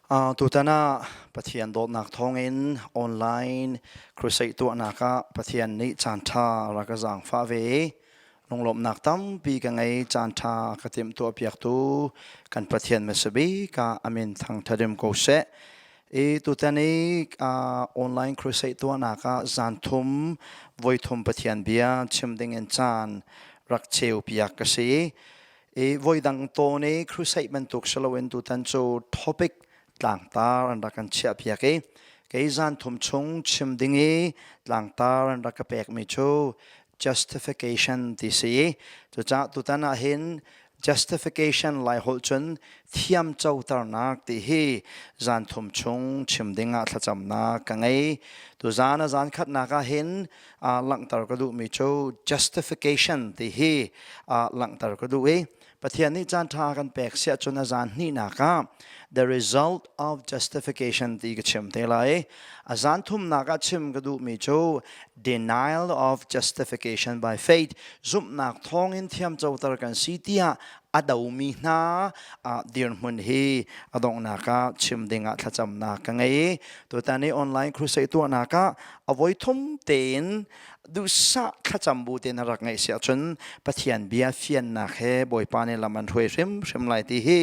Tutan ah Pathian dawtnak thawngin online crusade tuahnak ah Pathian nih caanṭha a rak ka zaangfah ve. Lunglawmhnak tampi ka ngei. Caanṭha ka timhtuahpiaktu kan Pathian hmasa bik ah amin thangthadim ko seh. I tutan i online crusade tuahnak ah zan thum voi thum Pathian bia chim dingin caan rak ceupiak ka si. I voidang to ni crusade bantuk siloin tutan cu topic tlangtar an rak kan chiah piak i kei zan thum chung chim ding i tlangtar an rak ka pek mi cu justification ti si i cucah tutan ah hin justification lai holh cun thiam coternak ti hi zan thum chung chim ding ah thlacamnak ka ngei tu zan a zan khatnak ah hin langhter ka duhmi cu justification ti hi langhter ka duh i Pathian nih caan ṭha kan pek siah cun a zaan hnihnak ah the result of justification ti ka chim te lai a zaan thumnak ah chim ka duhmi cu denial of justification by faith zumhnak thawngin thiam coter kan si tiah a domi hna dirhmun hi a donghnak ah chim ding ah thlacamnak ka ngei tutan i online crusade tuahnak ah a voi thum tein duhsah thlacam bu te na rak ngeih si ahcun pathian bia fiannak he bawipa nih lam an hruai hrimhrim lai ti hi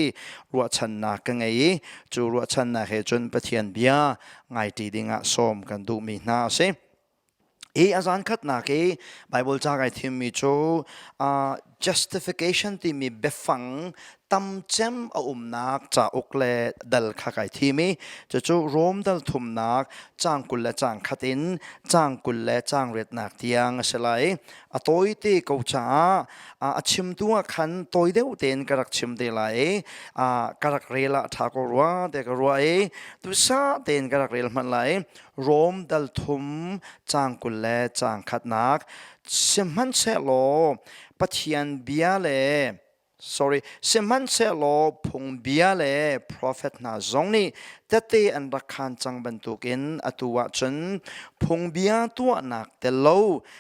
ruahchannak ka ngei i cu ruahchannak he cun pathian bia ngai ṭi ding ah sawm kan duhmi hna a si Hi a zankhatnak i Baibal ca kai thimmi cu uh, justification timi biafang tamcem a umnak cauk le dal kha kai thim i cucu Rom dal thumnak cang kul le cang khat in cang kul le cang riatnak tiang a si lai. A tawi te ko caah uh, a chimtu ah khan tawi deuh tein ka rak chim te lai i uh, ka rak rel ah tha ko rua te ka rua i tu sa tein ka rak rel hman lai. Rom dal thum caang kul le caang khatnak sihmanhsehlaw Pathian bia le sorry sihmanhsehlaw phungbia le profet hna zong nih tete an rak khaan cang bantukin atu ah cun phungbia tuahnak tel lo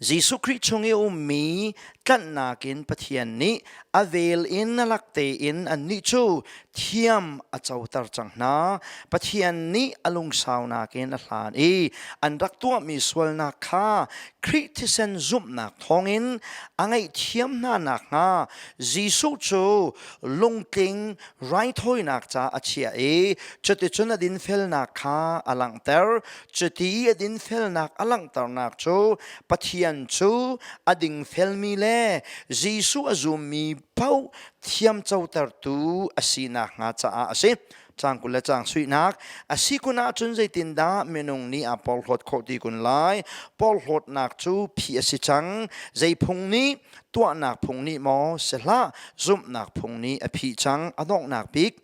Jesuh Khrih chung i a ummi tlanhnak in Pathian nih a vel in nalak tein annih cu thiam a coter cang hna. Pathian nih a lungsaunak in a hlan i an rak tuahmi sualnak kha Khrih thisen zumhnak thawngin a ngaihthiam hna nakhnga Jesuh cu lungtling raithawinak ca a chiah i cuticun a dinfelnak kha a langhter. Cuti a dinfelnak a langhternak cu Pathian cu a dingfelmi le Jesuh a zummi paoh thiam cotertu a si nakhnga caah a si. Caang kul le caang suinak a si kun ahcun zeitindah minung nih a porhlawt khawh ti kun lai? Porhlawtnak cu phi a si cang. Zei phung nih tuahnak phung nih maw si hlah, zumhnak phung nih a phih cang, a donghnak bik.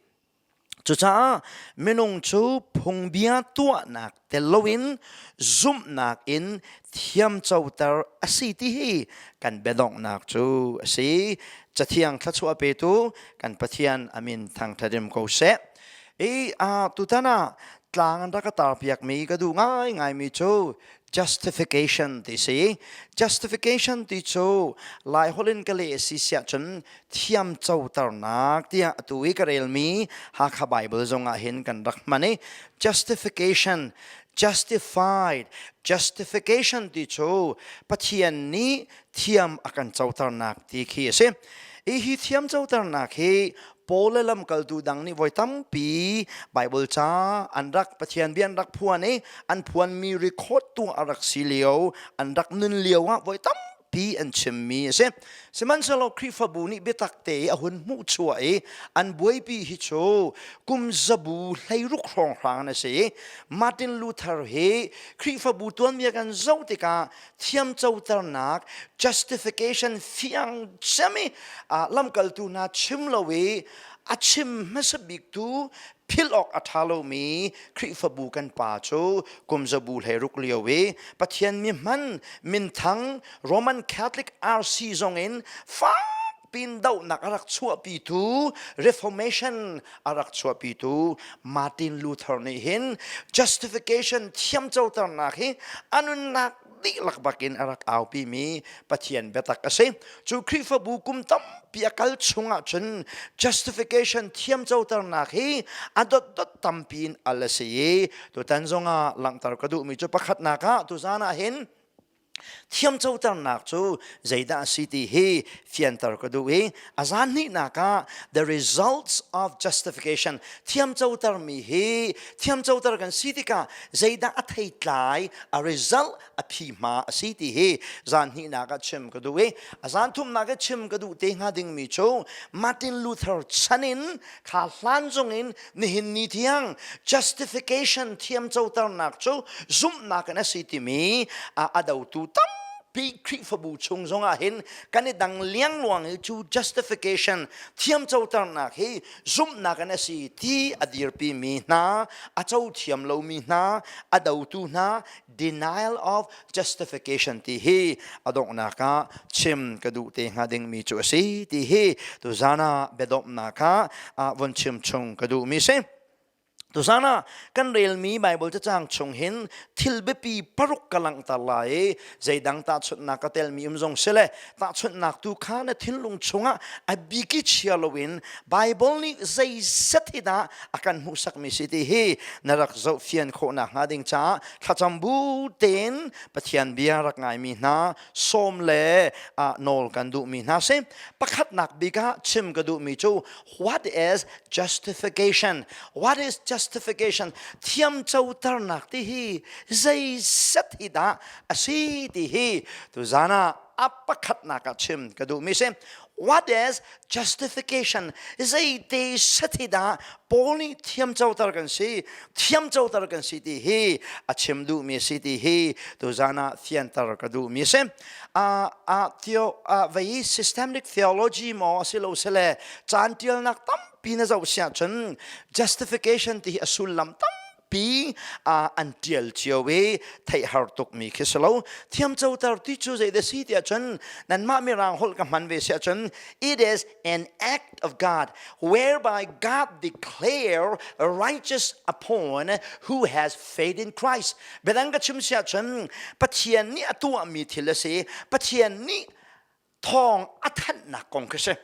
Cucaah minung cu phungbia tuahnak tel loin zumhnak in thiamcoter a si ti hi kan biadonghnak cu a si. Cathiang thluachuah petu kan Pathian amin thangthadim ko seh. I uh, tutan ah tlang an rak ka tarpiakmi ka duh ngaingaimi cu justification ti si justification ti cu lai holh in ka leh a si siah cun thiam coternak tiah atu i ka relmi Hakha Bible zongah hin kan rak hman i justification justified justification ti cu Pathian nih thiam a kan coternak ti khi a si hi hi thiam coternak hi Paul le lamkaltu dang nih voi tampi Bible ca an rak Pathian bia an rak phuan i an phuanmi record tu a rak si lio an rak nun lio ah voi tampi an chimmi a si. Sihmanhsehlaw Khrihfabu nih biatak te i a hun hmuh chuah i an buaipi hi cu kum zabu hleiruk hrawng hrang an a si. Martin Luther hi Khrihfabu tuanbia kan zoh tikah thiamcoternak justification fiang cemi ah lamkaltu hna chim lo i a chim hmasa biktu philh awk a ṭha lomi Khrihfabu kan pa cu kumzabu hlei ruk lio i Pathian mi hman minthang Roman Catholic RC zongin fak pindohnak a rak chuahpitu reformation a rak chuahpitu Martin Luther nih hin justification thiamcoternak hi a nunnak dihlak bakin a rak aupimi Pathian biatak a si cu Khrihfabu kum tampi a kal chung ahcun justification thiamcoternak hi a dotdot tampi in al a si i tutan zongah langhter ka duhmi cu pakhatnak ah tuzan ah hin Thiam coternak cu zeidah a si ti hi fianter ka duh i a zan hnihnak ah the results of justification thiam cotermi hi thiam coter kan si tikah zeidah a theitlai a result a phi hma a si ti hi zan hnihnak ah chim ka duh i a zan thumnak i chim ka duh te hnga dingmi cu Martin Luther chan in kha hlan zong in nihin ni thiang justification thiam coternak cu zumhnak in a si timi a dotu tampi Khrihfabu chung zongah hin kan i dang liangluang i cu justification thiam coternak hi zumhnak in a si ti a dirpimi hna a co thiam lomi hna a dotu hna denial of justification ti hi a donghnak ah chim ka duh te hnga dingmi cu a si ti hi tu zana biadomhnak ah von chim chung ka duhmi si tuzan ah kan relmi Bible cacang chung hin thil biapi paruk ka langter lai i zeidang ta chutnak ka telmi um zong sile tahchunhnak tu kha na thinlung chungah a biki chia loin Bible nih zei set hi dah a kan hmuhsakmi si ti hi na rak zoh fian khawhnak hnga ding caah thlacam bu tein Pathian bia rak ngaimi hna sawm le nawl kan duhmi hna si pakhatnak bik ah chim ka duhmi cu What is justification? What is justification? Thiamcoternak ti hi zeizat hi dah a si ti hi tuzan ah a pakhatnak ah chim ka duhmi si. What is justification? Zeite sati dah Paul nih thiamcoter kan si, thiamcoter kan si ti hi a chim duhmi si ti hi tuzan ah fianter ka duhmi si. uh, uh, theo, uh, vei systemic theology mo asilo sele chan tialnak tampi na zo sia chun justification ti a sullam tam pi uh, an tial cio i thei har tuk mi khi selo thiam cho tar ti chu zei de si tia chun nan ma mi rang hol ka man ve sia chun it is an act of God, whereby God declare righteous upon who has faith in Christ. Biadang ka chim si ahcun Pathian nih a tuahmi thil a si. Pathian nih thawng a thanhnak kong khi si.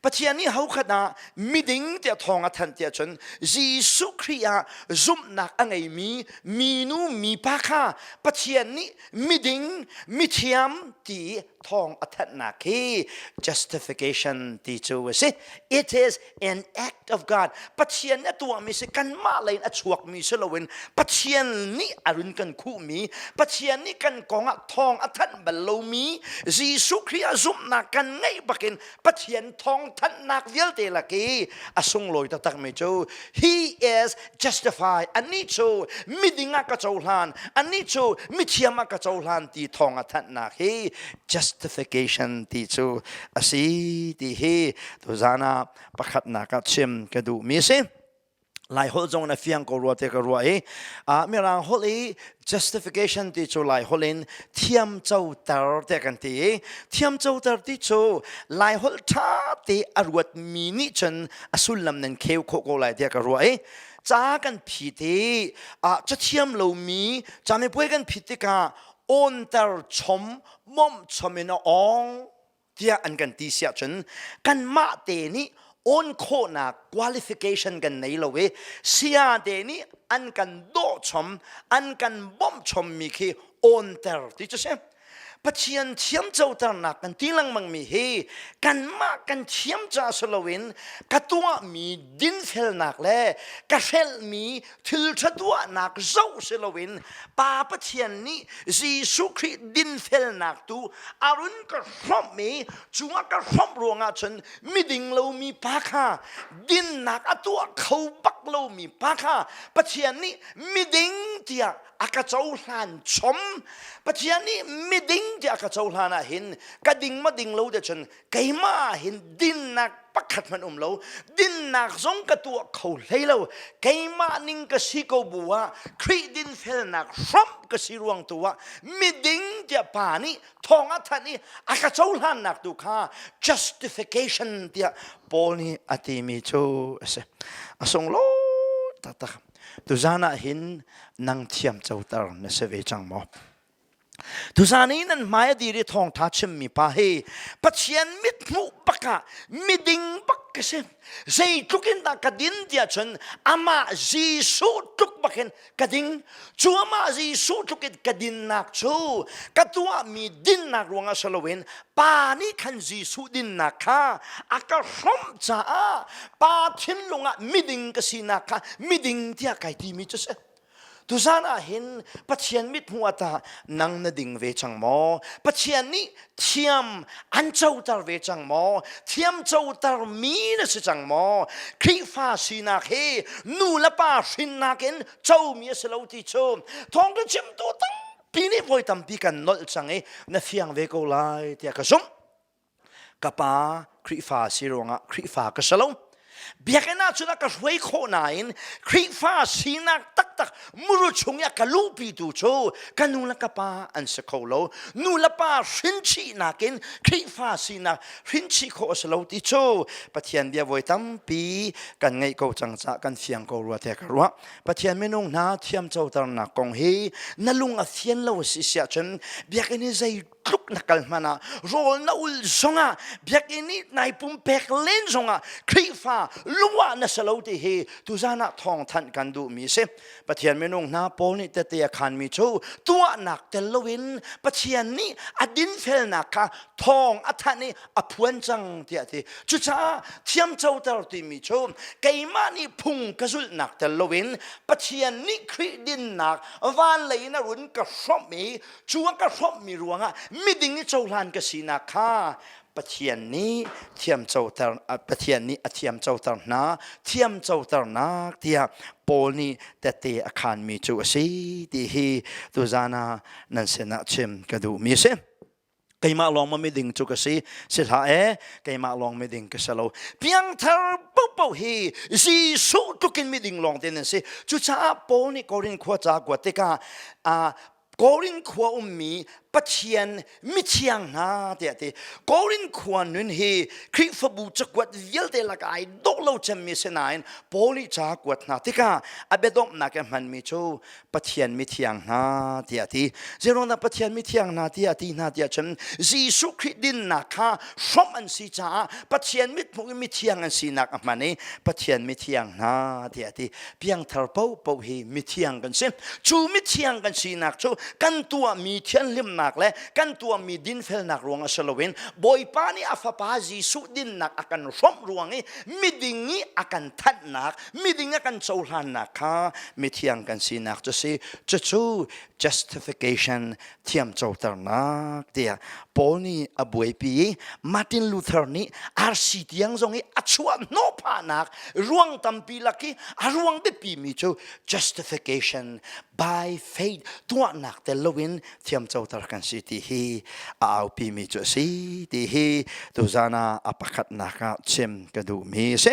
Pathian nih hokhat ah miding tiah thawng a thanh tiah cun Jesuh Khrih ah zumhnak a ngeimi minu mipa kha Pathian nih miding mithiam ti thawng a thanhnak hi justification ti cu a si it is an act of god pathian a tuahmi si kanmah lei in a chuakmi si loin pathian nih a run kan khuhmi pathian nih kan kong ah thawng a thanh bal lomi jesuh khrih a zumhnak kan ngeih bakin Pathian thawngthanhnak vialte lak i a sunglawi taktakmi cu he is justified anih cu miding ah ka cohlan anih cu mithiam ah ka cohlan ti thawng a thanhnak hi justification ti cu a si ti hi tuzan ah pakhatnak ah chim ka duhmi a si Lai holh zong in a fiang ko rua te ka rua i uh, Mirang holh i justification ti cu Lai holh in thiamco ter te kan ti i thiamco ter ti cu Lai holh ṭha te a ruat mi nih cun a sullam nan kheu khawh ko lai tiah ka rua i ca kan phit i uh, ca thiam lo mi ca mipuai kan phit tikah awnter chom mawmh chom in a ong tiah an kan ti siah cun kanmah te nih on khawhnak qualification kan nei lo i siate nih an kan dawhchom an kan bawmhchom mi khi onter ti cu si pathian thiam coternak kan ti lengmang mi hi kanmah kan thiam ca si loin ka tuah mi dinfelnak le ka hrelh mi thil ṭha tuahnak zoh si loin Pa Pathian nih Jesuh Khrih dinfelnak tu a run ka hromh i cu a ka hromh ruangah cun miding lomi pa kha dinnak a tuah kho bak lomi pa kha Pathian nih miding tiah a ka cohlan chom Pathian nih miding tiah a ka cohlan ah hin ka ding ma ding lo te cun keimah hin dinnak pakhat hmanh um lo dinnak zong ka tuah kho hlei lo keimah ning ka si ko bu ah Khrih dinfelnak hram ka si ruang tu ah miding tiah pa nih thong a thanh i a ka cohlannak tu kha justification tiah Paul nih a timi cu a si a sung lo taktak tuzan ah hin nang thiam coter na si ve cang maw Tusan i nan hmai a dir i thawngtha chimmi pa hi Pathian mithmuh bakah miding bak ka si. Zeitluk in dah ka din tiah cun amah Jesuh tluk bakin ka ding. Cu amah Jesuh tluk in ka dinnak cu ka tuahmi dinnak ruangah si loin pa nih khan Jesuh dinnak kha a ka hromh caah pa thinlung ah miding ka sinak kha miding tiah kai timi cu si. Tusan ah hin Pathian mit hmuh ah tah nang na ding ve cang maw? Pathian nih thiam an coter ve cang maw? Thiam coter mi na si cang maw? Khrihfa sinak hi nu le pa hrinnak in comi a si lo ti cu thawngtha chimtu tampi nih voi tampi kan nolh cang i na fiang ve ko lai tiah ka zumh. ka pa Khrihfa si ruangah Khrihfa ka si lo biakinn ah cun a ka hruai khawh nain Khrihfa sinak taktak muru chung i a ka luhpi tu cu ka nu le ka pa an si kho lo nu le pa hrinchihnak in Khrihfa sinak hrinchih khawh a si lo ti cu Pathian bia voi tampi kan ngeih ko cang ca kan fiang ko rua te ka ruah Pathian minung hna thiamcoternak kong hi na lung a fian lo a si siah cun biakinn i zei tluk na kal hmanh ah rawl na ul zongah biakinn i nai pumpek len zongah Khrihfa lungwah na sa lo ti hi tuzan ah thawngthanh kan duhmi si Pathian minung hna Paul nih tete a khanmi cu tuahnak tel loin Pathian nih a dinfelnak kha thawng a thanh i a phuan cang tiah ti cucaah thiamcoter timi cu keimah nih phung ka zulhnak tel loin Pathian nih Khrih dinnak vanlei in a run ka hrawmh i cu an ka hrawmhmi ruangah miding i cohlan ka sinak kha Pathian nih thiam coter Pathian nih a thiam coter hna thiam coternak tiah Paul nih tete a khanmi cu a si ti hi tuzan ah nan sinah chim ka duhmi a si keimah lawng ma miding cu ka si si hlah e keimah lawng miding ka si lo piangthar popoh hi Jesuh tlukin miding lawng te nan si cucaah Paul nih Korin khua ca kuat tikah Korin khua ummi Pathian mithiang hna tiah ti Korin khua nun hi Khrihfabu cakuat vialte laka ai dok lo cemmi sinain Paul i ca kuat hna tikah a biadomhnak a hmanmi cu Pathian mithiang hna tiah ti zeirona Pathian mithiang hna tiah ti hna tiah cun Jesuh Khrih dinnak kha hrom an si caah Pathian mithmuh i mithiang an sinak a hman i Pathian mithiang hna tiah ti piangthar paohpaoh hi mithiang kan si cu mithiang kan sinak cu kan tuahmi thianhlimnak le kan tuahmi dinfelnak ruang si loin bawipa nih a fapa jesuh dinnak a kan hrawmh ruang i miding i a kan thanhnak miding a kan cohlannak kha mithiang kan sinak cu si cucu justification thiam coternak tiah Paul nih a buaipi i Martin Luther nih RC tiang zong i a chuah hnawhphahnak ruang tampi lak i a ruang biapi mi cu justification by faith tuahnak tel loin thiam coter kan si ti hi a aupi mi cu a si ti hi tuzan ah a pakhatnak ah chim ka duh mi a si.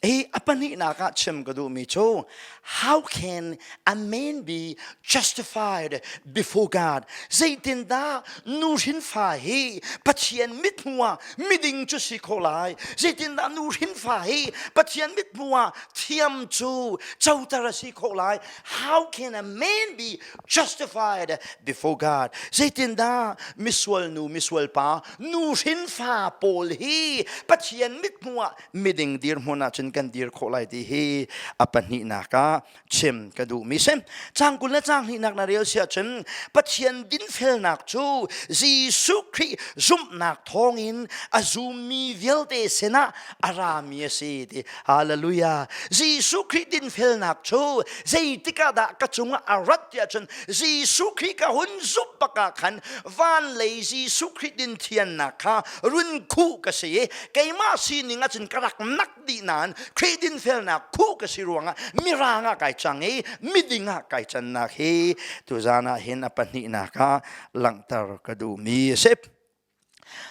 Hey, a pahnihnak ah chim ka duhmi cu, how can a man be justified before God? Zeitindah nuhrin fa hi Pathian mithmu ah miding cu si kho lai? Zeitindah nuhrin fa hi Pathian mithmu ah thiam cu coter a si kho lai? How can a man be justified before God? Zeitindah misual nu, misual pa, nuhrin fa pawl hi Pathian mithmu ah miding dirhmun ahcun kan dir khawh lai ti hi a pahnihnak ah chim ka duhmi si cang kul le cang hnihnak na rel si ahcun Pathian dinfelnak cu Jesuh Khrih zumhnak thawngin a zummi vialte sinah a rami a si ti hallelujah Jesuh Khrih dinfelnak cu zeitik ah dah ka cungah a rat ti ahcun Jesuh Khrih ka hun zumh bak ah khan van lei Jesuh Khrih din thiannak kha run khu ka si i keimah sining ahcun ka rak nak dih nain Khrih dinfelnak khu ka si ruangah mirang ah kai cang i miding ah kai cannak hi tuzan ah hin a pahnihnak ah langhter ka duhmi a si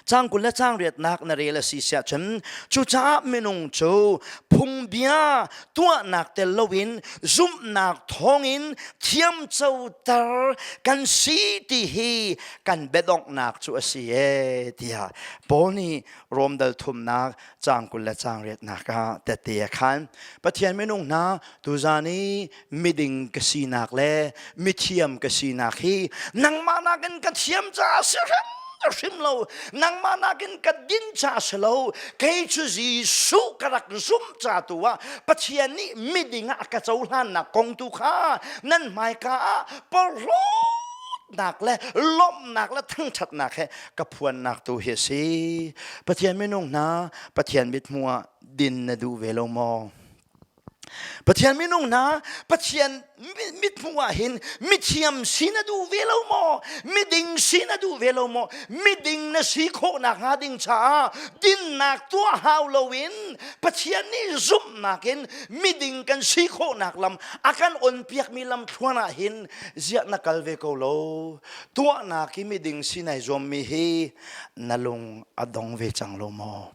cang kul le cang riatnak na rel a si siah cun cucaah minung cu phungbia tuahnak tel loin zumhnak thawngin thiamcoter kan si ti hi kan bedongnak cu a si e tiah Paul nih Rom dal thumnak cang kul le cang riatnak ah tete a khan Pathian minung hna tuzan i miding ka sinak le mithiam ka sinak hi nangmah nakin ka thiam caah si hrem ka hrim lo nangmah nakin ka din ca si lo kei cu Jesuh ka rak zum ca tu ah Pathian nih miding ah ka cohlannak kong tu kha nan hmaika ah porhlawt lawmhnak le lawmhnak le thangṭhatnak he ka phuannak tu hi a si Pathian minung hna Pathian mithmuh ah din na duh ve lo maw Pathian minung hna Pathian mithmuh ah hin mithiam si na duh ve lo maw miding si na duh ve lo maw miding na si khawhnak hnga ding caah dinnak tuah hau loin Pathian nih zumhnak in miding kan si khawhnak lam a kan on piakmi lam thluan ah hin ziah na kal ve ko lo tuahnak i miding sinai zuammi hi na lung a dong ve cang lo maw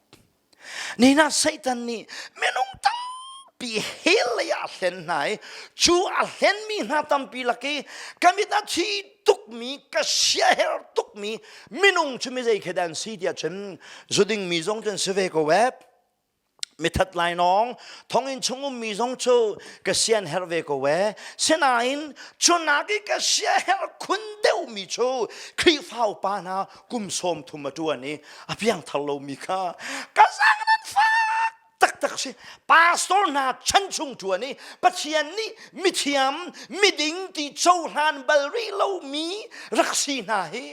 ni na satan nih minung tampi he lei a hlen hna i cu a hlen mi hna tampi lak i ka mit a thi tukmi ka siaher tukmi minung cu mi zei khedan si tiah cun zuding mi zong cun si ve ko web mithat lainawng thonginn chung ummi zong cu ka sian her ve ko e sinain cunak i ka sia her khun deuhmi cu khrihfa upa hna kum sawm thum a ṭuan i a piang thar lomi kha ka sang nan fak taktak si pastor hna chan chung ṭuan i pathian nih mithiam miding ti cohlan bal rih lomi rak si hna hi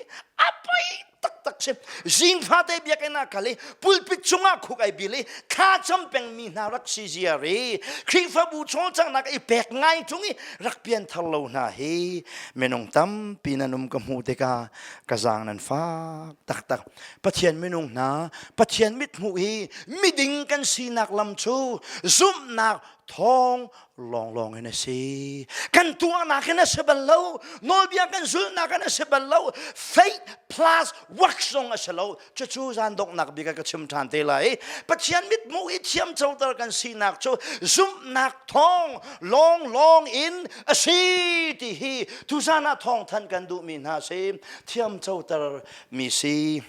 a pei taktak si zing fa te biakinn ah kal i pulpit chungah khuk ai bil i thla cham pengmi hna rak si zia ri khrifabu chawlcanghnak i pek ngai chung i rak pian thar lo hna hi minung tampi nan um ka hmu tikah ka zang nan fak taktak pathian minung hna pathian mit hmuh hi miding kan sinak lam cu zumhnak thawng lawnglawng in a si kan tuahnak in a si bal lo nawlbia kan zulhnak in a si bal lo faith plus work zong a si lo cucu zan donghnak bik ka chim ṭhan te lai pathian mitmu i thiam coter kan sinak cu zumhnak thawng lawnglawng in a si ti hi tuzan ah thawng than kan duhmi hna si thiam coter mi si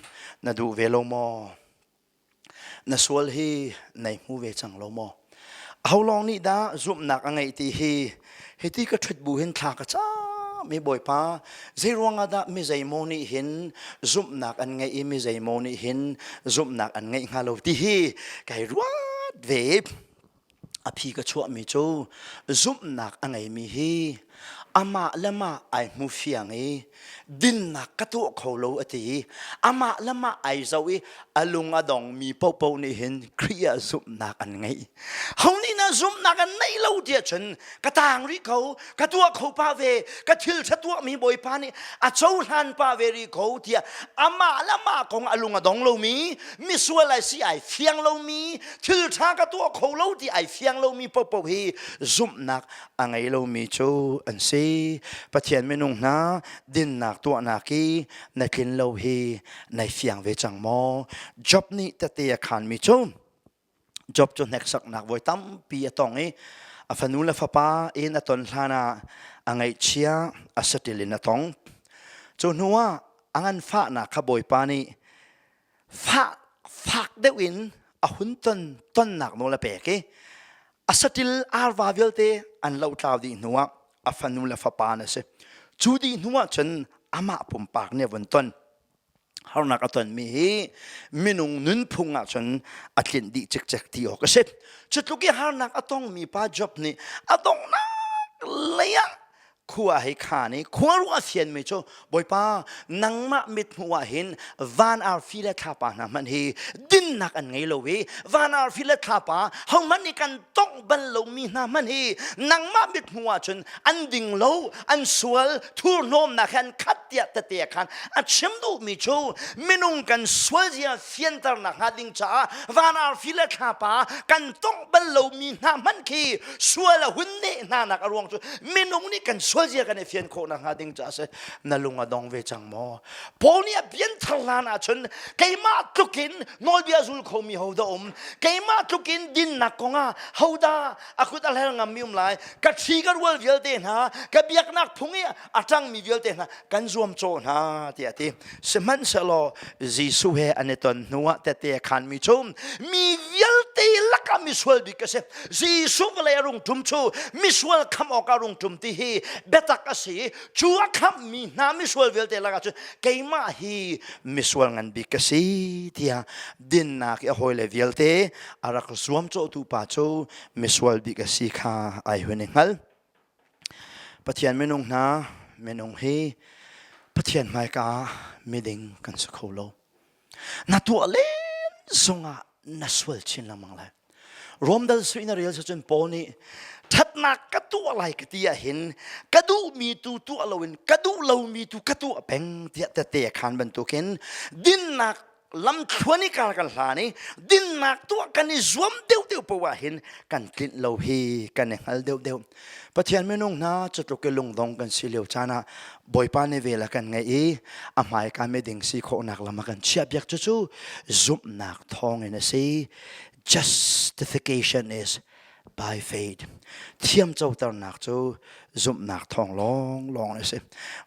na duh ve lo maw na sual hi nei hmu ve cang lo maw ho lawng nih dah zumhnak a ngeih ti hi hiti ka ṭhut bu hin thla ka cam i bawipa zei ruangah dah mi zeimaw nih hin zumhnak an ngeih i mi zeimaw nih hin zumhnak an ngeih hnga lo ti hi kai ruat ve A phi ka chuahmi cu zumhnak a ngeimi hi amah le mah ai hmu fiang i dinnak ka tuah kho lo a ti i amah le mah ai zoh i a lung a dongmi paohpaoh nih hin Khrih ah zumhnak an ngeih. Ho nih na zumhnak an neih lo tiah cun ka tang rih ko ka tuah kho pa ve ka thil ṭha tuahmi bawipa nih a cohlan pa ve rih ko tiah amah le amah kong a lung a dong lomi misual ai si ai fiang lomi thil ṭha ka tuah kho lo ti ai fiang lomi popoh hi zumhnak a ngei lomi cu an si pathian minung hna dinnak tuahnak i na tlin lo hi nai fiang ve cang maw job nih tete a khanmi cu Job cu hneksaknak voi tampi a tong i a fanu le fapa in a ton hlan ah a ngaihchia a saṭil in a tong. Cu hnuah a ngan fahnak kha Bawipa nih fah fak deuh in a hun ton tonnak nawl a pek i a saṭil arva vialte an lotlau dih hnuah a fanu le fapa an a si. Cu dih hnuah cun amah pumpak nih a vun ton. harnak a tonmi hi minung nunphung ah cun a tlinh dih cikcek ti awk a si cutluk i harnak a tongmi pa job nih a donghnak lei ah khua hei khan i khuaruah a fianmi cu bawipa nangmah mithmuh ah hin van arfi le thlapa hna hmanh hi dinnak an ngei lo i van arfi le thlapa hohmanh nih kan tongh bal lomi hna hmanh hi nangmah mithmuh ah cun an ding lo an sual thurhnawmnak he an khat tiah tete khan a chim duhmi cu minung kan sualzia fianter nak hnga ding caah van arfi le thlapa kan tongh bal lomi hna hmanh khi sual a hun ne hna nak a ruang cu minung nih kan sualzia kan i fian khawh nak hnga ding caah si na lung a dong ve cang maw Paul nih a bian thar hlan ah cun keimah tlukin nawlbia zul khomi ho da um keimah tlukin dinnak kongah hoda a kut a hlel ngam mi um lai ka thi ka rual vialte hna ka biaknak phung i a ṭangmi vialte hna kan zuamcawh hna tiah a ti sihmanhsehlaw Jesuh he an i ton hnuah tete khanmi cu mi vialte lakah misual bik a si Jesuh vawlei a rung ṭum cu misual khamh awkah a rung ṭum ti hi biatak a si cu a khamhmi hna misual vialte lakah cu keimah hi misual ngan bik ka si tiah dinnak i a hawile vialte a rak zuamcawhtu pa cu misual bik a si kha ai hun i hngal Pathian minung hna minung hi Pathian hmaika ah miding kan si kho lo. Na tuah len zungah na sual chin lengmang lai. Rome dal su in a rel se cun Paul nih ṭhatnak ka tuah lai ka ti ahhin ka duhmi tu tuah loin ka duh lomi tu ka tuah peng tiah tete khan bantukin dinnak lamthluan i kar kan hlan i dinnak tuah kan i zuam deuhdeuh poah hin kan tlinh lo hi kan i hngal deuhdeuh pathian minung hna cutluk i lungdong kan si lio caan ah bawipa nih vel a kan ngaih i a hmai ka me ding si khawhnak lam a kan chiah biak cu cu zumhnak thawngin a si justification is by faith thiam coternak cu zumhnak thawng lawng lawng a si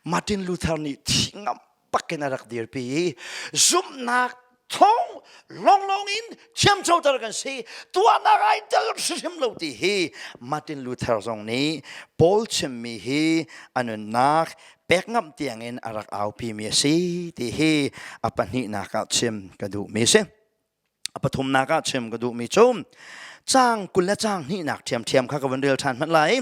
martin luther nih thi ngam pakin a rak dirpi i zumhnak thong lawnglawng in thiamcoter kan si tuahnak ai tel hrim lo ti hi Martin Luther zong nih Paul chimmi hi a nunnak pek ngam tiangin a rak aupimi a si ti hi a pahnihnak ah chim ka duhmi si a pathumnak ah chim ka duhmi cu cang kul le cang hnihnak thiamthiam kha ka van rel ṭhan hmanh lai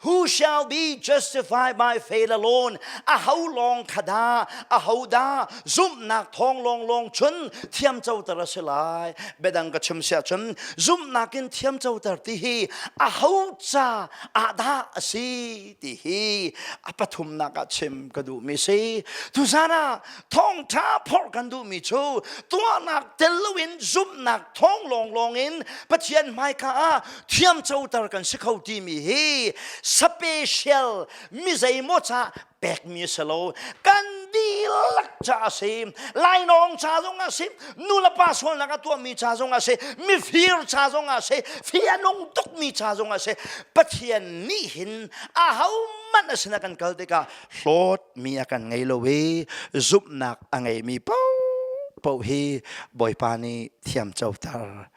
who shall be justified by faith alone aho lawng kha da aho da zumhnak thawng lawng lawng chun thiam coter a si lai bedang ka chim sia chun zumhnak in thiam coter ti hi aho ca ahdah a si ti hi a pathumnak ah chim ka duh mi si tuzana thawngṭha phorh kan duhmi cu tuahnak tel loin zumhnak thawng lawnglawng in Pathian hmaika ah thiamcoter kan si kho timi hi special mi zeimaw ca pekmi a si lo kan dihlak ca a si lainawng ca zong a si nulepa sualnak a tuahmi ca zong a si mifir ca zong a si fianung tukmi ca zong a si Pathian nih hin ahohmanh a sinah kan kal tikah hlawt mi a kan ngei lo i zumhnak a ngeimi paohpaoh hi Bawipa nih thiam coter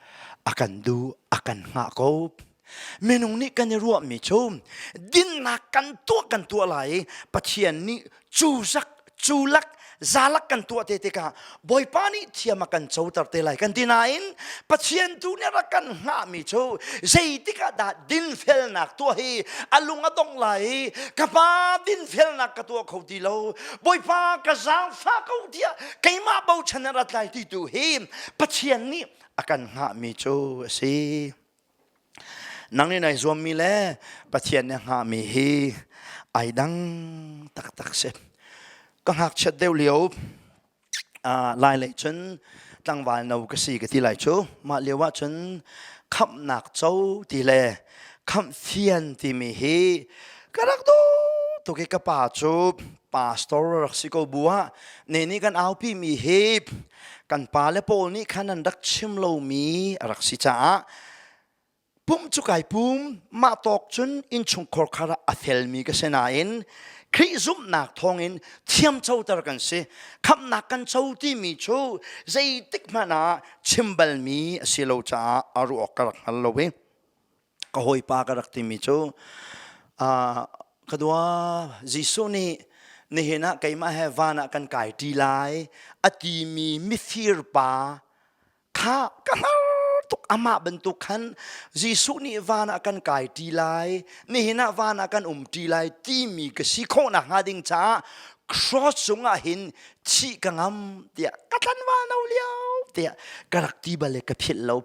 a kan du a kan hngah ko minung nih kan i ruahmi cu dinnak kan tuah kan tuah lai i pathian nih cu zak cu lak zalak kan tuah te tikah Bawipa nih thiam a kan coter te lai kan ti nain Pathian tu nih rak kan hngahmi cu zeitik ah dah dinfelnak tuah hi a lung a dong lai i ka pa dinfelnak ka tuah kho ti lo Bawipa ka zaangfah ko tiah keimah bochan in rat lai ti tu hi Pathian nih a kan hngahmi cu a si. Nang nih nai zuammi le Pathian nih a hngahmi hi ai dang taktak si. Ka ngakchiat deuh lio ah lai lei cun tlangval no ka si ka ti lai cu. Mah lio ah cun khamhnak co ti le khamh fian timi hi ka rak duh tuk i ka pa cu pastor a rak si ko bu ah ne nih kan aupi mi hi kan pa le pawl nih khan an rak chim lomi a rak si caah pum cu kai pum mah tawk cun innchungkhar khar ah a felmi ka si nain Khrih zumhnak thawngin thiamcoter kan si khamnak kan co timi cu zeitik hmanh ah chim balmi a si lo caah a ruh awk ka rak hngal lo i ka hawipa ka rak timi cu ka dua Jesuh nih nihin ah keimah he van ah kan kai ṭi lai a timi mifir pa kha ka hngar tuk amah bantuk khan Jesuh nih van ah kan kai ṭi lai nihin ah van ah kan um ṭi lai timi ka si khawh nakhnga ding caah cross cungah hin thih ka ngam tiah ka tlan wal no lio tiah ka rak ti bale ka philh lo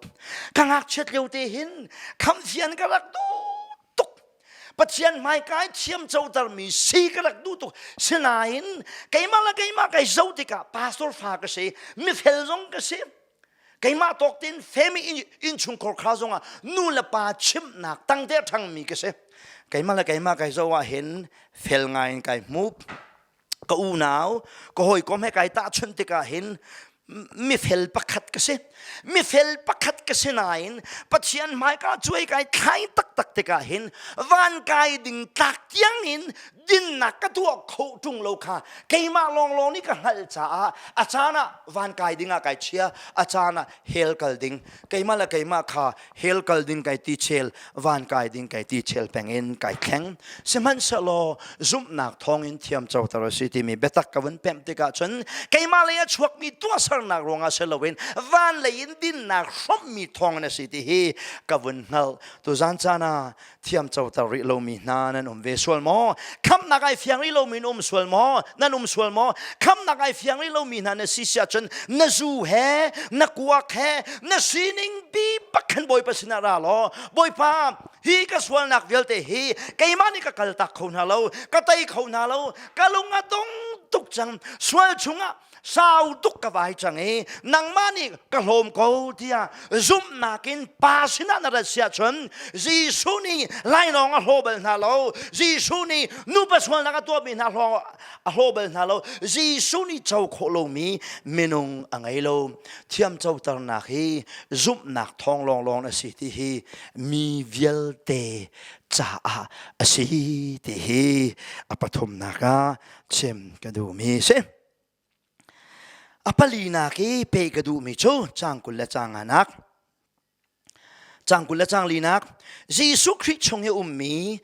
ka ngakchiat lio te hin khamfian ka rak du tuk pathian hmaikai thiam coter mi si ka rak du tuk sinain keimah le keimah kai zo tikah pastor fa ka si mifel zong ka si keimah tawk tein femi innchungkhar kha zongah nu le pa chimnak tangte ṭhangmi ka si keimah le keimah kai zo ah hin fel ngai in kai hmuh ka unau ka hawikom he kai tahchunh tikah hin mifel pakhat ka si mifel pakhat ka si nain pathian hmaika cuai kai thlai taktak tikah hin van kai ding tlak tiang in dinnak ka tuah kho ṭung lo kha keimah lawnglawng nih ka hngalh caah a caan ah van kai ding ah kai chia a caan ah hell kal ding keimah le keimah kha hell kal ding kai ti chel van kai ding kai ti chel peng in kai thleng sihmanhsehlaw zumhnak thawng in thiam coter a si timi biatak ka vun pemh tikah cun keimah lei a chuakmi tuahsernak ruangah si loin van lei in dinnak hrawmmi thawng in a si ti hi ka vun hngalh tuzan cana thiam coter rih lomi hna nan um ve sual maw khamnak ai fiang rih lomi na um sual maw nan um sual maw khamnak ai fiang rih lomi hna na si siah cun na zu he na kuak he na sining bi pakhan bawipa sinah ra law bawipa hi ka sualnak vialte hi keimah nih ka kal tak kho hna lo ka tei kho hna lo ka lung a tong tuk cang sual chungah sau tuk ka vai cang i nangmah nih ka hlawm ko tiah zumhnak in pa sinah na rat siah cun Jesuh nih lainawng a hlaw bal hna lo Jesuh nih nupa sualnak a tuahmi hna hlawng a hlaw bal hna lo Jesuh nih co khawh lomi minung a ngei lo thiamcoternak hi zumhnak thawng lawnglawng a si ti hi mi vialte caah a si ti hi a pathumnak ah chim ka duhmi si a palinak i pe ka duhmi cu cang kul le cang anak cang kul le cang linak Jesuh Khrih chung i ummi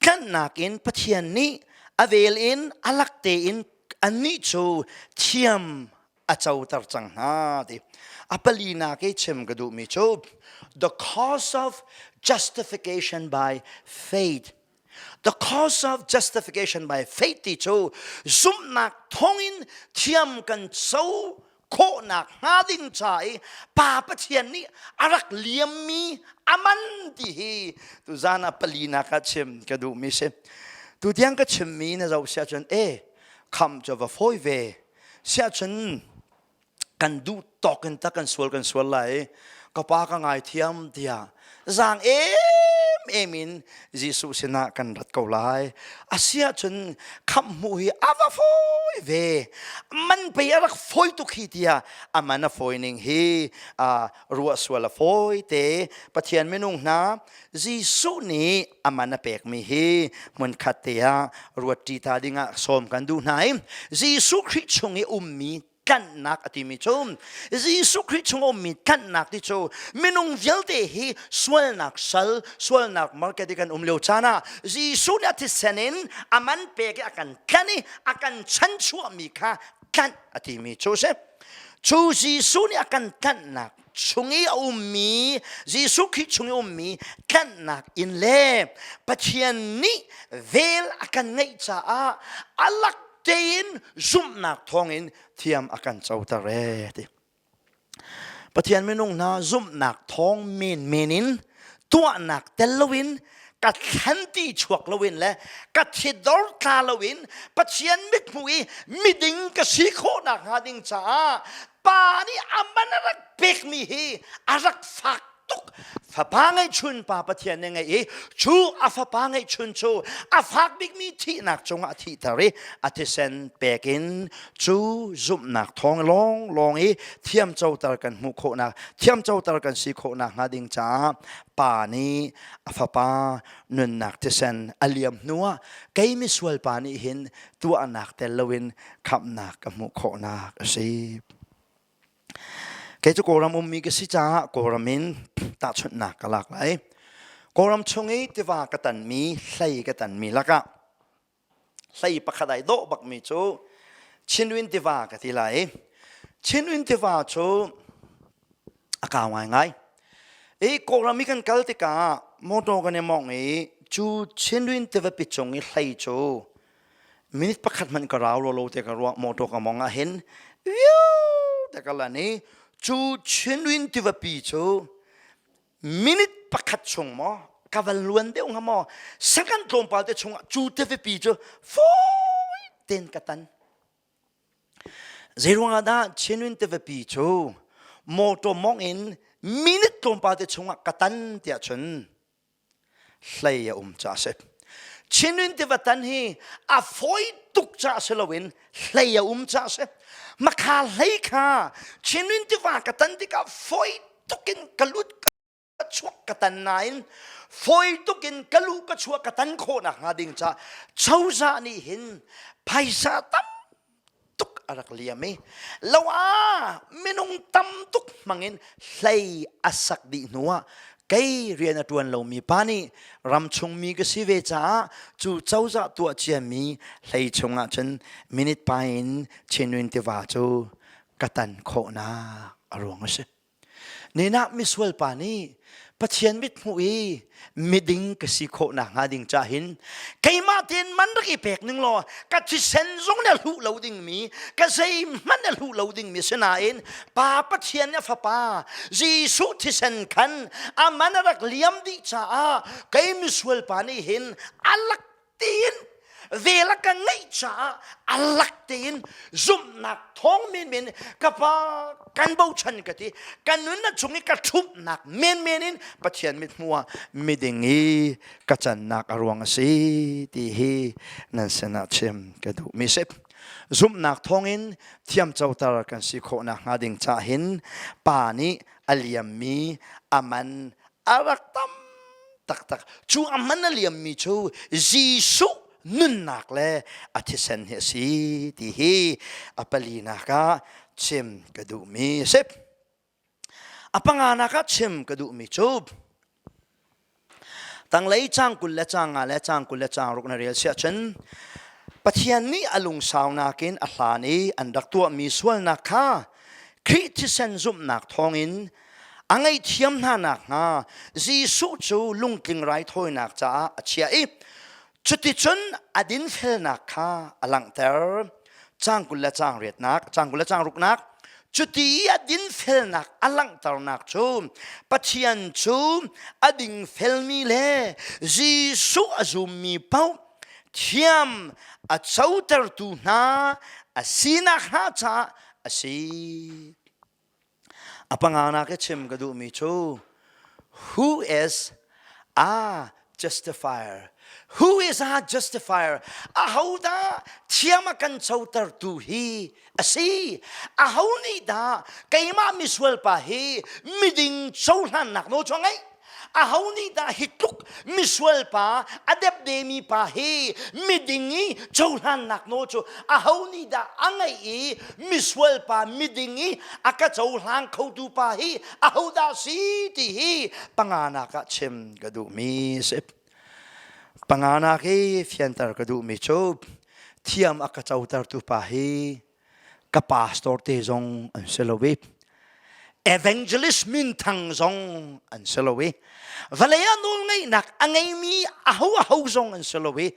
tlanhnak in Pathian nih a vel in alak tein annih cu thiam a coter cang hna ti a palinak i chim ka duhmi cu the cause of justification by faith The cause of justification by faith ti cu zumhnak thawngin thiam kan so khawhnak hnga ding ca i pa Pathian nih a rak liammi aman ti hi tuzan ah palinak ah chim ka duhmi si tu tiang ka chimmi na zoh sia cun e kham cu va fawi ve sia cun kan duh tawk in ta kan sual kan sual lai ka pa ka ngaithiam tiah zang em em in Jesuh sinah kan rat ko lai asia cun kham mu hi ava foi ve man pe a rak foi tu khi tia aman a foi ning hi uh, ruah sual a foi te pathian minung hna Jesuh nih a man a pekmi hi hmunkhat te ah ruatṭi ta dingah sawm kan duh hna i Jesuh Khrih chung i ummi tlanhnak a timi cu Jesuh Khrih chung ummi tlanhnak ti cu minung vialte hi sualnak sal sualnak market i kan um lio caan ah Jesuh nih a thisen in a man pek i a kan tlanh i a kan chanchuahmi kha tlanh a timi cu a si cu Jesuh nih a kan tlanhnak chung i a ummi Jesuh Khrih chung i ummi tlanhnak in le Pathian nih vel a kan ngeih caah a lak tein zumhnak thawngin thiam a kan coter ee ti. Pathian minung hna zumhnak thawng menmen in tuahnak tel loin ka thlan ti chuak loin le ka thidor tla loin Pathian mithmuh i miding ka si khawh nak hnga ding caah pa nih a man a rak pekmi hi a rak fak tuk fapa ngeihchun pa pathian nih ngei i cu a fapa ngeihchun cu a fak bikmi thihnak cungah a thihter i a thisen pek in cu zumhnak thawng lawng lawng i thiamcoter kan hmuh khawhnak thiamcoter kan si khawhnak hnga ding caah pa nih a fapa nunnak thisen a liam hnuah kei misual pa nih hin tuahnak tel loin khamhnak ka hmuh khawhnak a si. Kei cu Kawlram ummi ka si caah Kawlram in tahchunhnak ka lak lai. Kawlram chung i tiva ka tanmi, hlei ka tanmi lakah hlei pakhat ai dawh bakmi cu Chinwin tiva ka ti lai. Chinwin tiva cu a kau ngaingai i kawlram i kan kal tikah motor kan i mawngh i cu Chinrin tivapi cung i hlei cu minute pakhat hmanh ka rau lo lo te ka ruah motor ka mawng ah hin te ka lan i cu Chinrin tivapi cu minute pakhat chung maw ka van luan deuh hnga maw second tlawmpal te chungah cu tivapi cu fawi ten ka tan Zeiruangah dah Chinwin tivapi cu motor mawng in minute tlawmpal te chungah ka tan tiah cun hlei a um caah a si. Chinwin tiva tan hi a fawi tuk caah si loin hlei a um caah a si. Makha hlei kha Chinwin tiva ka tan tikah fawi tuk in ka lut ka chuak ka tan nain fawi tuk in ka lu ka chuah ka tan khawh nak hnga ding ca choza nih hin phaisa tam tuk a rak liam i lo ah minung tam tuk hmangin hlei a sak dih hnu ah kei rian a ṭuan lomi pa nih ramchung mi ka si ve caah cu cozah tuah ciami hlei chungah cun minute pa in Chinwin tiva cu ka tan khawhnak a ruang a si. Ninak misual pa nih Pathian mit hmuh i miding ka si khawh nak hnga ding ca hin keimah tein man rak i pek ning law ka thisen zung ne hluh lo dingmi ka zeihmanh ne hluh lo dingmi sinain pa Pathian nih fapa Jesuh thisen khan a man a rak liam dih caah kei misual pa nih hin a lak tiin vel a ka ngeih caah a lak tein zumhnak thawng menmen ka pa kan bochan ka ti ka nun na chung i ka ṭhumhnak menmen in Pathian mit hmu ah miding i ka cannak a ruang a si ti hi nan sinah chim ka duh mi si zumhnak thawngin thiamcoter kan si khawh nakhnga ding cah hin pa nih a liammi a man a rak tam taktak cu a man a liammi cu Jesuh nunnak le a thisen hi a si ti hi a palinak ah chim ka duhmi a si a panganak ah chim ka duhmi cu tanglei cang kul le cang nga le cang kul le cang ruk na rel siah cun Pathian nih a lungsaunak in a hlan i an rak tuahmi sualnak kha Khrih thisen zumhnak thawngin a ngaihthiam hna nakhnga Jesuh cu lungtling raithawinak caah a chiah i cuticun a dinfelnak kha a langhter cang kul le cang riatnak cang kul le cang ruknak cuti i a dinfelnak a langhternak cu Pathian cu a dingfelmi le Jesuh a zummi paoh thiam a cotertu hna a si nakhnga caah a si. A panganak i chim ka duhmi cu who is a justifier who is a justifier ahodah thiam a kan cotertu hi a si aho nih dah keimah misual pa hi miding cohlannak nawl cu a ngeih aho nih dah hi tluk misual pa a depde mi pa hi miding i cohlannak nawl cu aho nih dah a ngeih i misual pa miding i a ka cohlang khotu pa hi aho dah si ti hi panganak ah chim ka duh mi si panganak hi fianter ka duh mi cu thiam a ka cotertu pa hi ka pastor te zong an si lo i evangelist minthang zong an si lo i vale a nawl ngaihnak a ngeimi aho aho zong an si lo i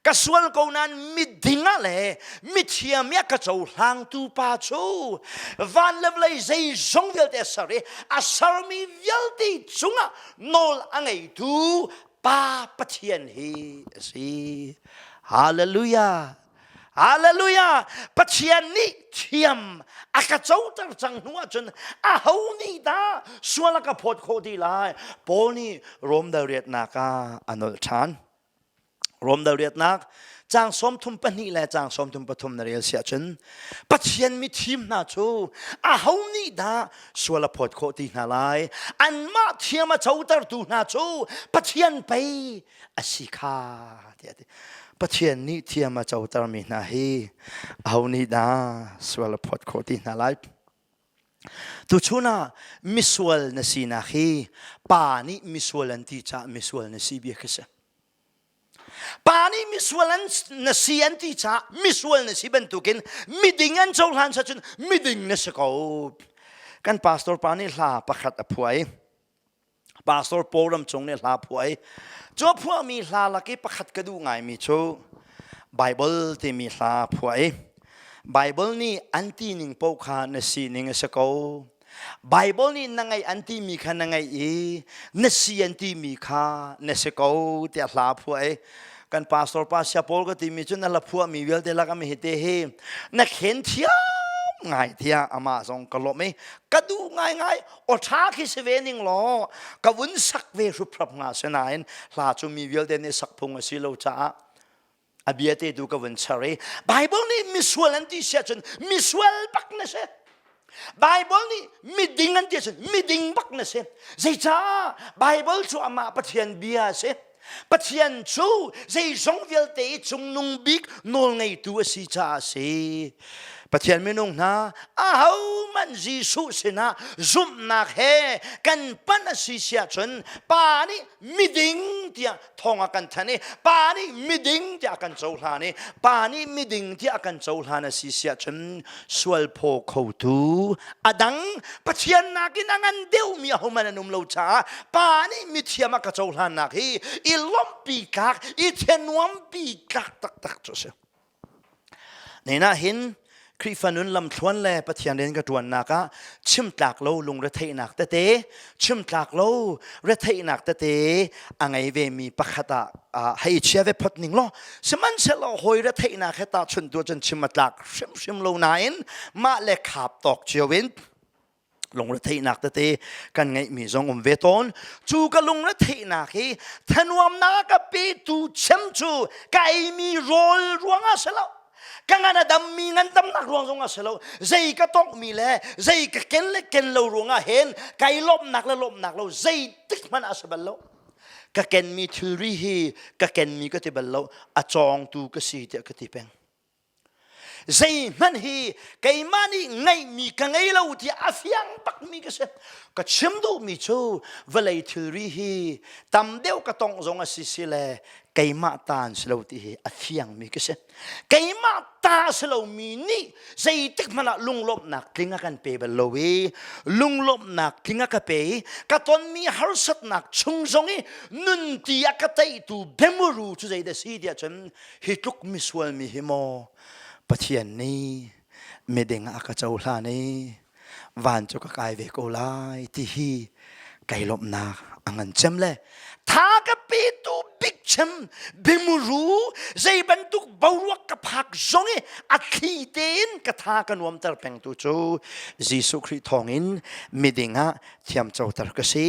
ka sual ko nain miding ah le mithiam ia ka cohlangtu pa cu van le vlei zei zong vialte a ser i a sermi vialte cungah nawl a ngeitu pa Pathian hi a si. Hallelujah. Hallelujah! Pathian nih thiam a ka coter cang hnu ahcun a ho nih dah sual a ka phawt khawh ti lai. Paul nih Romdal riatnak ah a nolh ṭhan. Romdal riatnak cang sawmthum pahnih le cang sawmthum pathum na rel si ahcun Pathian mithim hna cu a ho nih dah sual a phawt khawh ti hna lai. Anmah thiam a cotertu hna cu Pathian pei a si kha tiah a ti pathian nih thiam a cotermi hna hi aho nih dah sual a phawt khawh ti hna lai tuchun ah misual na sinak hi pa nih misual an ti caah misual na si bia khi si pa nih misual an na si an ti caah misual na si bantukin miding an cohlan sa cun miding na si ko kan pastor pa nih hla pakhat a phuai pastor paul ram chung nih hla phuai cu phuahmi hla lak i pakhat ka duh ngaimi cu bible timi hla phuai bible nih an ti ning paoh kha na sining a si ko bible nih na ngaih an timi kha na ngaih i na si an timi kha na si ko tiah hla phuai kan pastor pa sia paul ka timi cu na la phuahmi vialte lak am hi te hi na khen thiam ngai tiah ama zong ka lawm i ka duh ngai ngai awtha khi si ve ning law ka vun sak ve hruprap nga si nain hla cu mi vialte nih sak phung a si lo caah a bia te tu ka vun ser i Bible nih misual an ti sia cun misual bak na si Bible nih miding an ti cun miding bak na si zeicah Bible cu amah Pathian bia a si Pathian cu zeizong vialte i cungnung bik nawlngeitu a si caah a si. Pathian minung hna ahohmanh Jesuh sinah zumhnak he kan pan a si siah cun pa nih miding tiah thong a kan thanh i pa nih miding tiah a kan cohlan i pa nih miding tiah a kan cohlan a si siah cun sualphaw khotu a dang pathian nakin a ngan deuhmi ahohmanh an um lo caah pa nih mithiam a ka cohlannak hi i lawmhpi tlak i thanuampi tlak taktak cu a si nina hin Khrihfa nun lamthluan le Pathian rian ka ṭuannak ah chimtlak lo lungretheihnak tete chimtlak lo retheihnak tete a ngei ve mi pakhat ah hei chia ve phot ning lo sihmanhsehlaw hoi retheihnak he ta chun tu cun chim a tlak hrimhrim lo nain mah le khap tawk cio in lungretheihnak tete kan ngeih mi zong um ve tawn cu ka lungretheihnak hi thenwamnak a petu chem cu ka ei mi rawl ruangah se lo ka ngan a dammi ngan damnak ruang zongah si lo zei ka tawkmi le zei ka ken le ken lo ruangah hen kai lawmnak le lawmnak lo zeitik hmanh a si bal lo ka kenmi thilri hi ka kenmi ka ti bal lo a cawngtu ka si tiah ka ti peng zeihmanh hi keimah nih ngeihmi ka ngei lo ti a fiang bakmi ka si ka chim duhmi cu vawlei thilri hi tam deuh ka tongh zong a si si le keimah ta an si lo ti hi a fiangmi ka si keimah ta si lomi nih zeitik hmanh ah lunglawmhnak tling a kan pe bal lo i lunglawmhnak tling a ka pe i ka tonmi harsatnak chung zong i nunti a ka teitu bemuru cu zeidah si tiah cun hi tluk misual mi hi maw pathian nih miding a ka cohlan i van cu ka kai ve ko lai ti hi kai lawmhnak a ngan cem le tha ka pe tu big chem bimuru zei bantuk boruak ka phak zong i a thli tein ka tha ka nuam ter peng tu cu Jesuh Khrih thawngin miding ah thiam coter ka si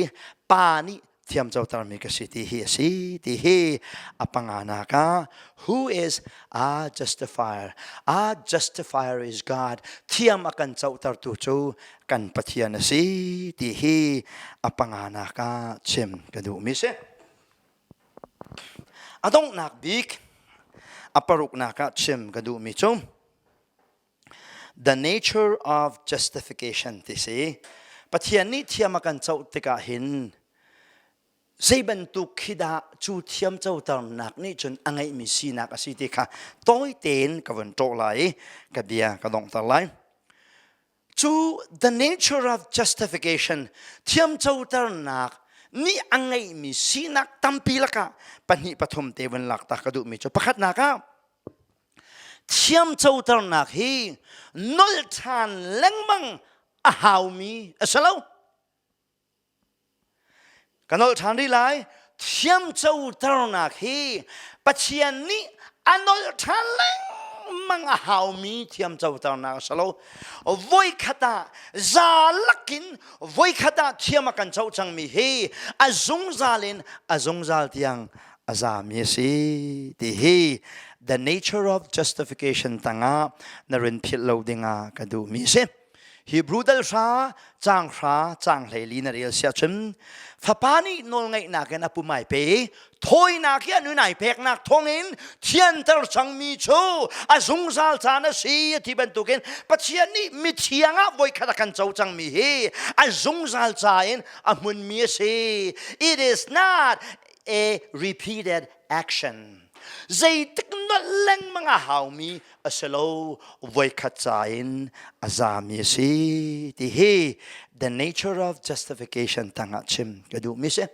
pa nih thiam cotermi ka si ti hi a si ti hi a panga nak ah who is a justifier a justifier is god thiam a kan cotertu cu kan pathian a si ti hi a panga nak ah chim ka duh mi si a donghnak bik a paruk nak ah chim ka duh mi cu The nature of justification ti si. Pathian nih thiam a kan coh tikah hin zei bantuk khi dah cu thiam coternak nih cun a ngeihmi sinak a si ti kha tawi tein ka vun ṭawh lai i ka bia ka donghter lai. Cu the nature of justification thiam coternak nih a ngeihmi sinak tampi lakah pahnih pathum te vun lak ta ka duhmi cu pakhatnak ah thiamcoternak hi nolh ṭhan lengmang a haumi a si lo ka nolh ṭhan rih lai thiamcoternak hi pathian nih a nolh ṭhan lengmang a haumi thiamcoternak a si lo voikhat ah za lakin voikhat ah thiam a kan co cangmi hi a zungzal in a zungzal tiang a zami a si ti hi the nature of justification tangah na rin philh lo dingah ka duhmi a si Hebrew dal hra cang hra cang hlei li na rel sia chun fapa nih nawl ngaihnak in apumai pe thawinak hi anu nai peknak thongin thianter changmi cu a zungzal caan a si ti bantukin pathian nih mithiang ah voikhat a kan co cangmi hi a zungzal ca in a hmunmi a si it is not a repeated action. Zeitik na lengmang a haumi a si lo voikhat ca in a zami a si ti hi the nature of justification tangah chim ka duhmi si.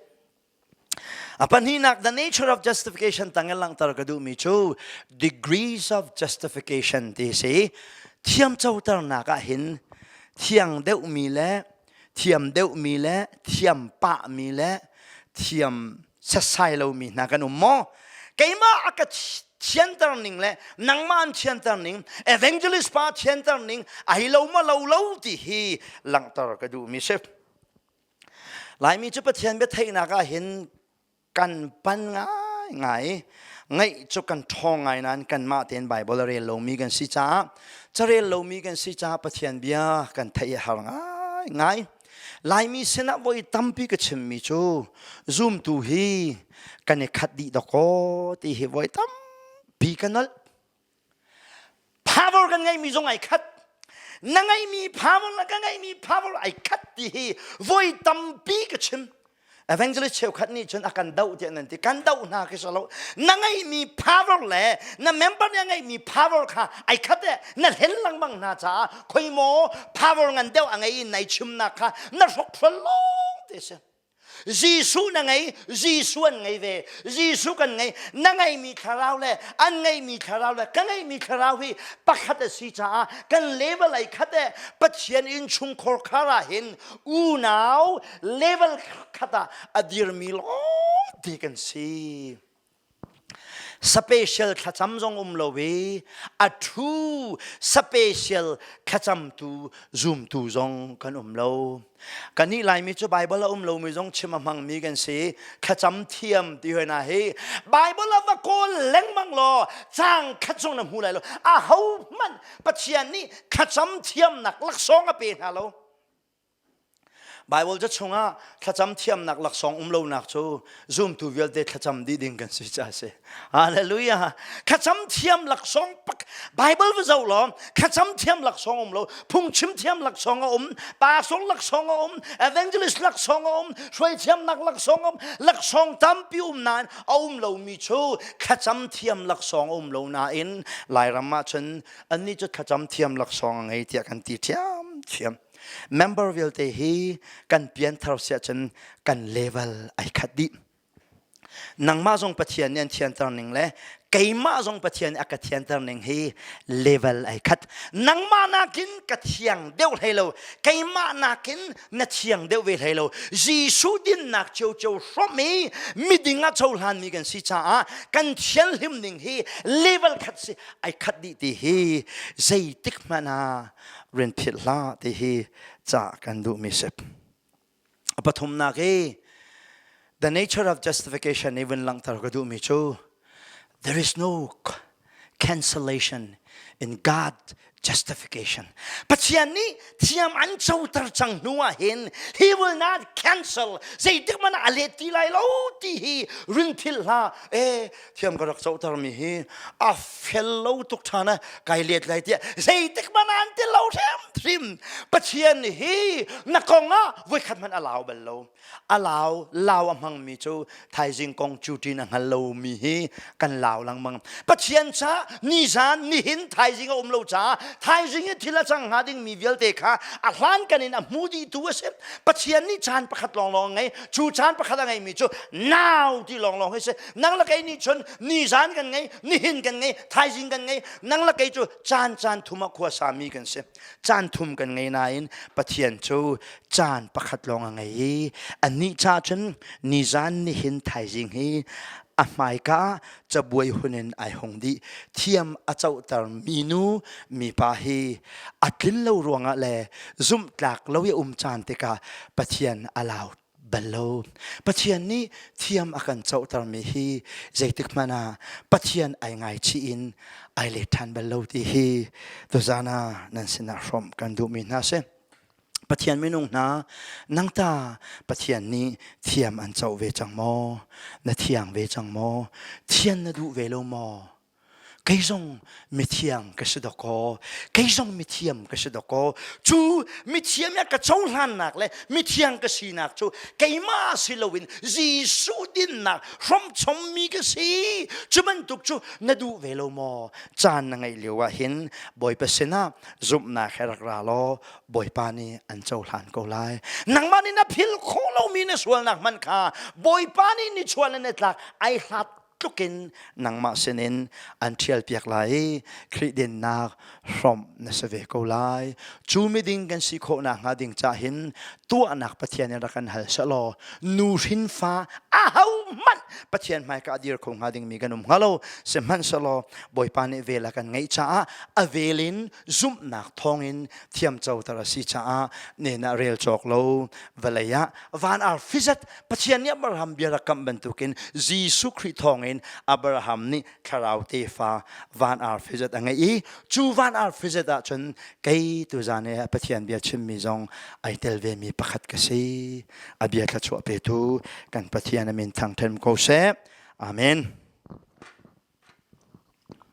A pahnihnak the nature of justification tangin langhter ka duhmi cu degrees of justification ti si. Thiam coternak ah hin thiang deuhmi le thiam deuhmi le thiam pahmi le thiam setsai lomi hna kan um maw keimah a ka thianter ning le nangman thianter ning evangelist pa thianter ning a hi lo ma lo lo ti hi langhter ka duhmi si laimi cu pathian bia theihnak ah hin kan pan ngaingai ngaih cu kan ṭhawng ngai nain kanmah tein Baibal a rel lomi kan si caah carel lomi kan si caah Pathian bia kan theih a har ngaingai Laimi sinah voi tampi ka chimmi cu zumtu hi kan i khat dih dawk kaw ti hi voi tampi ka nolh power kan ngeihmi zong ai khat na ngeihmi power le ka ngeihmi power ai khat ti hi voi tampi ka chim evangelist cheukhat nih cun a kan doh tiah nan ti kan doh hna khi salo na ngeihmi power le na member nih a ngeihmi power kha ai khat e na hlen lengmang hna caah khoi maw power ngan deuh a ngei in nai chimnak kha na hrokhrol lawng te si Jesuh na ngei, Jesuh an ngei ve. Jesuh kan ngei. Na ngeimi thlarau le an ngeimi thlarau le ka ngeimi thlarau hi pakhat a si caah kan level ai khat e Pathian innchungkhar khar ah hin unau level khat ah a dirmi lawngte kan si. special thlacam zong um lo i a thu special thlacamtu zumtu zong kan um lo kan nih laimi cu bible a um lomi zong chim a hmangmi kan si thlacam thiam ti hoi na hi bible a va kawl lengmang law cang khat zong na hmu lai lo a ho hmanh pathian nih thlacam thiamnak laksawng a pe hna lo Baibal ca chungah thlacam thiamnak laksawng um lonak cu zumtu vialte thlacam dih ding kan si ca a si. Hallelujah. Thlacam thiam laksawng Baibal va zoh law thlacam thiam laksawng um lo, phungchim thiam laksawng a um, pastor laksawng a um, evangelist laksawng a um, hruaithiamnak laksawng a um, laksawng tampi um nain a um lomi cu thlacam thiam laksawng a um lo nain Lairam ah cun annih cu thlacam thiam laksawng a ngei tiah kan ti thiam thiam. member vialte hi kan pianthar siah cun kan level ai khat dih nangmah zong pathian nih an thianter ning le keimah zong pathian nih a ka thianter ning hi level ai khat nangmah nakin ka thiang deuh hlei lo keimah nakin na thiang deuh ve hlei lo jesuh dinnak cio cio hrom i miding a cohlan mi kan si caah kan thianhlim ning hi level khat si ai khat dih ti hi zeitik hmanh ah rian phit hlah ti hi ca kan duhmi sip a pathumnak i the nature of justification i vun langhter ka duhmi cu there is no cancellation in God justification Pathian nih thiam an coter cang hnu ah hin he will not cancel zeitik man a let ti lai lo ti hi rin thil hla e thiam ka rak cohter mi hi a fel lo tuk ṭhan a kai let lai tiah zeitik man an ti lo hrim hrim pathian hi na kong ah voikhat hmanh a lau bal lo a lau lau a hmang mi cu thaizing kong cutin a hngal lo mi hi kan lau lengmang pathian ca nizan nihin thaizing a um lo ca thaizing i thil a cang hnga ding mi vialte kha a hlan kan in a hmu dih tu a si pathian nih caan pakhat lawnglawng a ngei cu caan pakhat a ngei mi cu nau ti lawnglawng hi si nang la kei nih chun ni zan kan ngei nihin kan ngei thaizing kan ngei nang la kei cu caan caan thum a khua sami kan si caan thum kan ngei nain pathian cu caan pakhat lawng a ngei i anih cha chun ni zan nihin thaizing hi a hmaika cabuai hunin ai hung dih thiam a cohter mi nu mi pa hi a tlin lo ruangah le zumhtlak lo i um caan tikah pathian a lau bal lo pathian nih thiam a kan cohtermi hi zeitik hmanh ah pathian ai ngaichih in ai let ṭhan bal lo ti hi tuzan ah nan sinah hrawm kan duhmi hna si pathian minung hna nang ta pathian nih thiam an co ve cang maw na thiang ve cang maw thian na duh ve lo maw kei zong mithiang ka si dakaw kei zong mithiam ka si dakaw cu mithiam ya ka cohlannak le mithiang ka sinak cu keimah si loin Jesuh dinnak hrawmchommi ka si cu bantuk cu na duh ve lo maw caan na ngeih lio ah hin Bawipa sinah zumhnak he rak ra law Bawipa nih an cohlan ko lai nangmah nih na phil khawh lomi na sualnak man kha Bawipa nih ni chuah le ni tlak ai hlat tlukin nangmah sinin an ṭhialpiak lai i Khrih dennak hrawmh na si ve ko lai. Cu miding kan si khawh nakhnga ding cahin tuahnak Pathian in rak kan hal seh law nu hrinfa ahohmanh Pathian hmaika dir kho hnga dingmi kan um hnga lo sihmanhsehlaw Bawipa nih vel a kan ngeih caah a velin zumhnak thawngin thiamcoter a si caah nena rel cawk lo vawlei ah van ar fizat pathian nih abraham bia rak kamh bantukin jesuh khrih thawngin abraham nih thlarau tefa van ar fizat a ngei i cu van ar fizat ahcun kei tuzan i pathian bia chimmi zong ai tel vemi pakhat ka si a bia thlachuah petu kan pathian amin thangthem ko seh amen